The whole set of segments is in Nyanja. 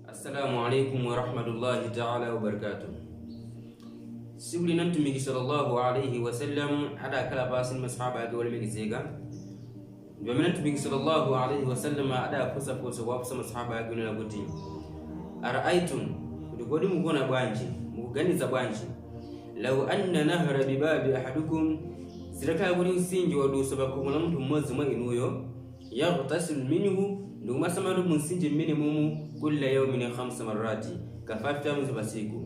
assalamu alaikum warahmatullahi taala wabarakatuh siku lina mtumiki sallallahu alaihi wasallam adakhala pansi ndi masahaba ake olemekezeka ndi pamene mtumiki sallallahu alaihi wasallam adafunsa funso kuwafunsa masahaba ake onena kuti araaitum kuti kodi mukuona bwanji mukuganiza bwanji law anna nahra bibabi ahadukum zitakhala kuti mtsinje wadusa pa khomo la munthu mmodzi mwa inuyo yaghtasilu minhu ndikumasambatu mu mtsinje mmenemumu kulla yaumin khamsa marrati ka 5 times pa tsiku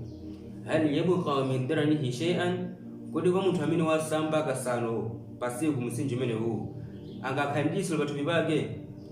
hal yabqa min daranihi shay'an kodi kwa munthu amene wasamba kasanu pa tsiku mtsinje umenewu angakhala ndi litsiro pathupi pake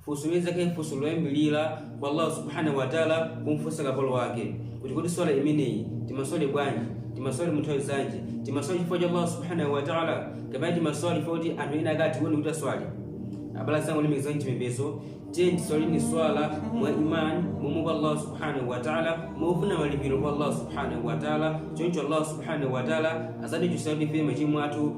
funso lizakhale funso loyambirira kwa allah subhanahu wataala kumfunsa kapolo wake kuti kodi swala imeneyi timaswali bwanji timaswali munthawi zanji timaswali chifukwa cha allah subhanahu wataala kapena timaswali chifukwa kuti anthu ena akatione kuti taswali abala zangu lemekezani chipembezo tiyeni tiswalini swala mwa imani momuopa allah subhanahu wataala mofuna malipiro kwa allah subhanahu wataala choncho allah subhanahu wataala azatichotsera ife machimo athu